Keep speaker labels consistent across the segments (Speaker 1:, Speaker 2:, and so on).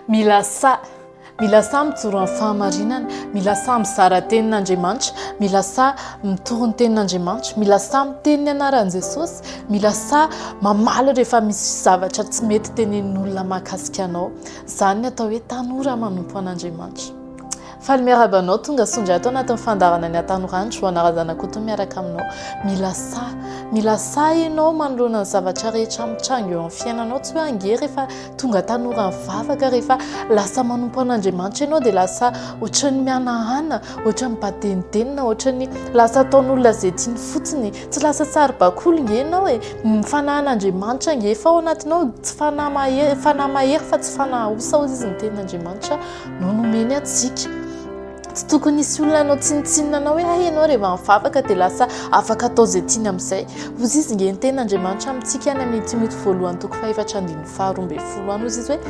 Speaker 1: Mila sahy, mila sahy mijoro amin'ny fahamarinana, mila sahy mizara ny tenin'Andriamanitra, mila sahy mitory ny tenin'Andriamanitra, mila sahy miteny ny anaran'i Jesosy, mila sahy mamaly rehefa misy zavatra tsy mety tenenin'olona mahakasika anao. Izany no atao hoe tanora manompo an'Andriamanitra. Faly miarahaba anao tonga sondry ato anatin'ny fandaharana ny hatanorany Joana Razanakoto miaraka aminao mila sahy mila sahy ianao manoloana ny zavatra rehetra mitranga eo amin'ny fiainanao tsy hoe ange rehefa tonga tanora mivavaka rehefa lasa manompo an'Andriamanitra ianao dia lasa ohatran'ny mihanahana ohatran'ny badenidenina ohatran'ny lasa ataon'olona izay tiany fotsiny tsy lasa saribakoly nge ianao e ny fanahan'Andriamanitra nge efa ao anatinao tsy fanahy mahery fanahy mahery fa tsy fanahy osaosa izy ny tenin'Andriamanitra no nomeny antsika. Tsy tokony hisy olona hanao tsinontsinona anao hoe hay ianao rehefa mivavaka dia lasa afaka atao izay tiany amin'izay. Hozy izy nge ny ten'Andriamanitra amintsika any amin'ny Timoty voalohany toko fahefatra andininy faharoa ambin'ny folo any hozy izy hoe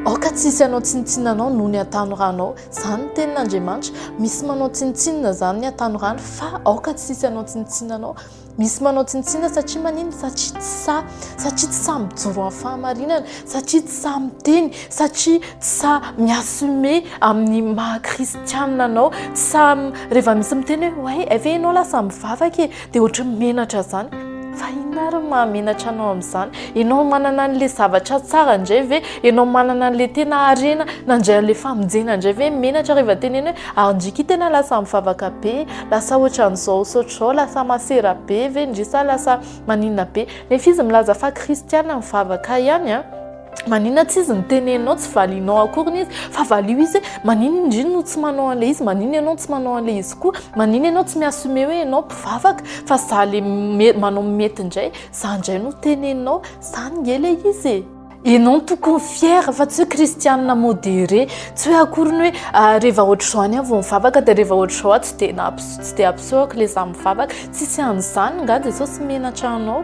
Speaker 1: aoka tsy hisy hanao tsinontsinona anao noho ny atanoranao. Izany ny tenin'Andriamanitra. Misy manao tsinontsinona izany ny atanoranao fa aoka tsy hisy hanao tsinontsinona anao. Misy manao tsinontsinona satria manino satria tsy sahy, satria tsy sahy mijoro amin'ny fahamarinana, satria tsy sahy miteny, satria tsy sahy mi-assumer amin'ny maha kristianina anao, tsy sahy rehefa misy miteny hoe oay hay ve ianao lasa mivavaka e, dia ohatran'ny menatra izany. Fa inona ary no maha menatra anao amin'izany? Ianao manana an'ilay zavatra tsara indray ve? Ianao manana an'ilay tena harena nandray an'ilay famonjena indray ve menatra rehefa tenenina hoe ary ndriky tena lasa mivavaka be e? Lasa ohatran'izao saotra izao, lasa masera be ve ndry sa lasa maninona be? Nefa izy milaza fa kristiana mivavaka ihany an! Maninona tsy izy no teneninao tsy valianao akoriny izy fa valio izy hoe maninona ndry no tsy manao an'ilay izy, maninona ianao tsy manao an'ilay izy koa, maninona ianao tsy mi-assumer hoe ianao mpivavaka fa za le manao ny mety indray, za indray no teneninao, zany nge ilay izy e! Ianao tokony fier fa tsy hoe kristianina modéré, tsy hoe akory ny hoe ah, rehefa ohatr'izao any aho vao mivavaka dia rehefa ohatr'izao aho tsy dia nampiseho, tsy dia ampisehoako ilay izaho mivavaka. Tsisy an'izany, angaha Jesosy menatra anao?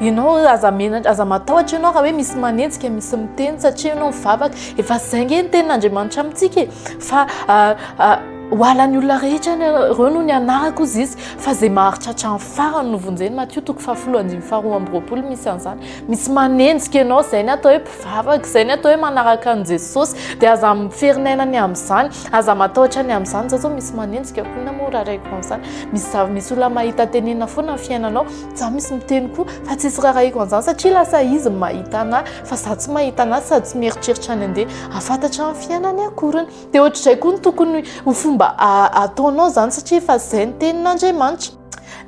Speaker 1: Ianao aza menatra, aza matahotra ianao raha hoe misy manenjika, misy miteny satria ianao mivavaka. Efa izay ange ny tenin'Andriamanitra amintsika e, fa ah, ah, ho halan'ny olona rehetra ny anareo noho ny anarako hozy izy, fa izay maharitraritra amin'ny farany no vonjeny, Matio toko fahafolo andininy faharoa amby roapolo misy an'izany. misy manenjika ianao izay ny atao hoe mpivavaka izay ny atao hoe manaraka an'i jesosy dia aza miferinaina ny amin'izany aza matahotra ny amin'izany izao zao misy manenjika koina moa raha raiko an'izany misy zava misy olona mahita tenena foana ny fiainanao za misy miteny koa fa tsy isy raha raiko an'izany satria lasa izy mahita anahy fa za tsy mahita anahy sady tsy mieritreritra any andeha afantatra ny fiainany akoriny dia ohatr'izay koa ny tokony ho fomba ataonao izany satria fa izay ny tenin'andriamanitra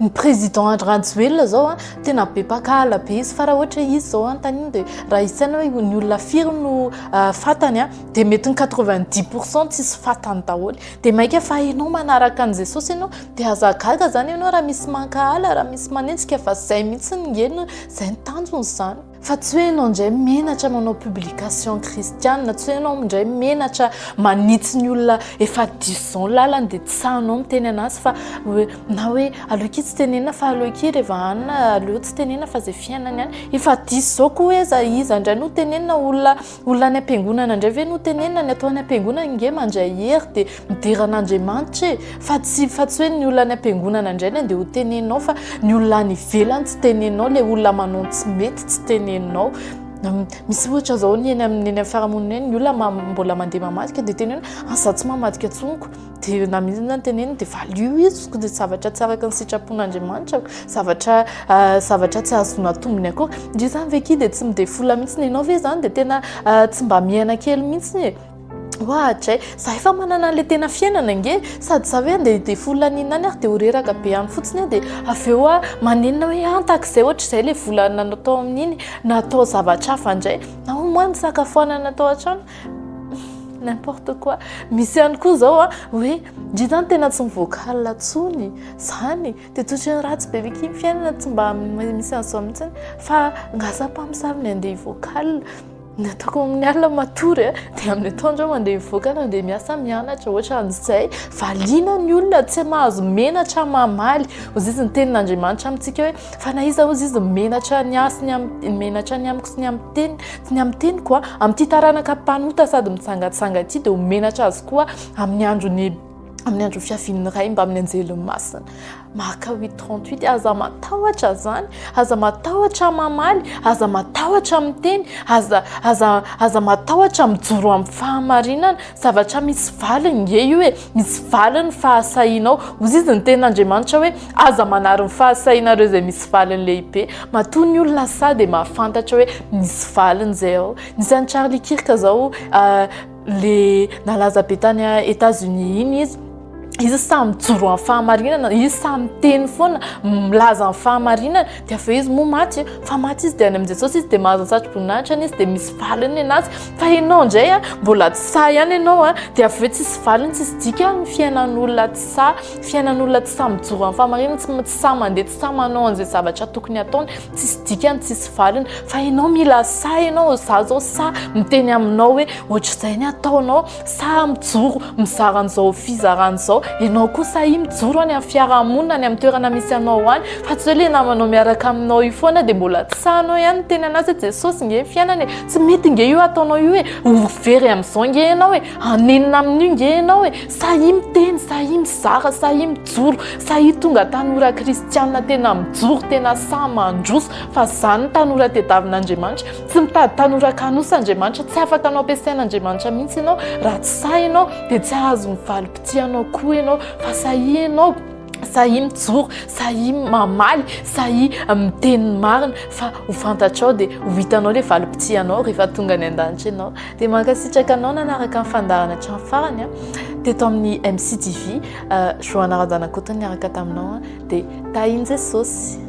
Speaker 1: ny président Andry Rajoelina zao a tena be mpakahala be izy fa raha ohatra izy zao anontaniana dia raha isaina hoe ny olona firy no euh, fatany a dia mety ny 90 pourcent tsisy fatany daholo dia maika fa ianao manaraka an'i Jesosy ianao dia aza gaga zany ianao raha misy mankahala raha misy manenjika fa zay mihitsy ny ngeno zay ny tanjony zany Fa tsy hoe ianao indray menatra manao publication kristiana, tsy hoe ianao indray menatra manitsy ny olona efa diso izao ny lalany dia tsy sahinao miteny an'azy fa hoe na hoe aleo akia tsy tenenina fa aleo akia reva hanina aleo tsy tenenina fa izay fiainany any, efa diso izao koa hoe iza iza indray no tenenina olona Olona any am-piangonana indray ve no tenenina, ny atao any am-piangonana nge mandray hery dia midera an'Andriamanitra e! fa tsy fa tsy hoe ny olona any am-piangonana indray no andeha ho teneninao fa ny olona any ivelany tsy teneninao, ilay olona manao ny tsy mety tsy teneninao. Misy ohatra izao ny eny amin'ny eny amin'ny fiarahamonina eny, ny olona mbola mandeha mamadika dia teneno hoe aza tsy mamadika intsony koa. dia na mihitsy na teneniny dia valio iziko dia zavatra tsy araka ny sitrapon'Andriamanitra ko zavatra ah, zavatra tsy azona tombony akory dia izany ve ki dia tsy midefola mihitsy ny ianao ve izany dia tena ah, tsy mba miaina kely mihitsy ny e ohatray za efa manana an'la tena fiainana nge sady za hoe andeha de fola ninany ary de ho reraka be any fotsiny a de avy eo a manenina hoe antaka izay ohatr'izay le volana natao amin'iny natao zavatra hafa indray na ho moa ny sakafoanana atao hatrany N'importe quoi. Misy ihany koa zao a, hoe ndry zany tena tsy mi-vocal tsony zany de totrany ratsy be miky ny fiainana tsy mba misy an'zao mitsiny fa ngasa mpamosavy ny andeha hi-vocal ny ataoko amin'ny alina matory de amin'ny atoandro aho mandeha mi-vocal mandeha miasa mianatra ohatran'izay valiana ny olona tsy mahazo menatra mamaly hoy izy ny tenin'Andriamanitra amintsika hoe Fa na iza ozy izy menatra ny ahy sy ny amin'ny menatra ny amiko sy ny amin'ny teniko sy ny amin'ny teniko a, amin'ity taranaka mpanota sady mitsangatsanga ity dia ho menatra azy koa amin'ny andron'ny amin'ny andron'ny fiavian'ny Ray mbamin'ny anjeliny masina. Marka 8:38 aza matahotra izany, aza matahotra mamaly, aza matahotra miteny, aza aza aza matahotra mijoro amin'ny fahamarinana Zavatra misy valiny nge io e, misy valiny ny fahasahianao. Hozizy ny tenin'Andriamanitra hoe, Aza manary ny fahasahianareo izay misy valiny lehibe. Matoa ny olona sahy dia mahafantatra hoe misy valiny izay ao. Nisy an'i Charlie Kirk izao, ilay nalaza be tany Etats-Unis iny izy. izy samy mijoro amin'ny fahamarinana izy samy miteny foana milaza amin'ny fahamarinana dia avy eo izy moa maty fa maty izy dia any amin'i jesosy izy dia mahazo ny satroboninahitra ny izy dia misy valiny ny anazy fa ianao indray a mbola tsy sahy ihany ianao a dia avy eo tsisy valiny tsisy dika ny fiainan'olona tsy sahy fiainan'olona tsy sahy mijoro amin'ny fahamarinana tsy tsy sahy mandeha tsy sahy manao an'izay zavatra tokony ataony tsisy dikany tsisy valiny fa ianao mila sahy ianao za zao sahy miteny aminao hoe ohatr'izay ny ataonao Sa mijoro mizara an'izao fizarana izao ianao koa sa i mijoro any amin'ny fiarahamonina any amin'ny toerana misy anao any fa tsy hoe ilay namanao miaraka aminao io foana dia mbola tsy sahanao ihany ny teny an'azy hoe Jesosy nge ny fiainana e! tsy mety nge io ataonao io e! ho very amin'izao nge ianao e! hanenina amin'io nge ianao e! sa i miteny sa i mizara sa i mijoro sa i tonga tanora kristianina tena mijoro tena sahy mandroso fa izany ny tanora tediavin'Andriamanitra Tsy mitady tanora kanosa Andriamanitra, tsy afaka anao ampiasain'Andriamanitra mihitsy ianao raha tsy sahy ianao, dia tsy hahazo ny valim-pitia anao koa ianao, fa sahia ianao, sahia mijoro, sahia mamaly, sahia miteny ny marina, fa ho fantatrao dia ho hitanao ilay valim-pitia anao rehefa tonga any an-danitra ianao. Dia mankasitraka anao nanaraka ny fandaharana hatramin'ny farany an, teto amin'ny MCTV, Johanna Randanakoto niaraka taminao an, dia tahin'i Jesosy.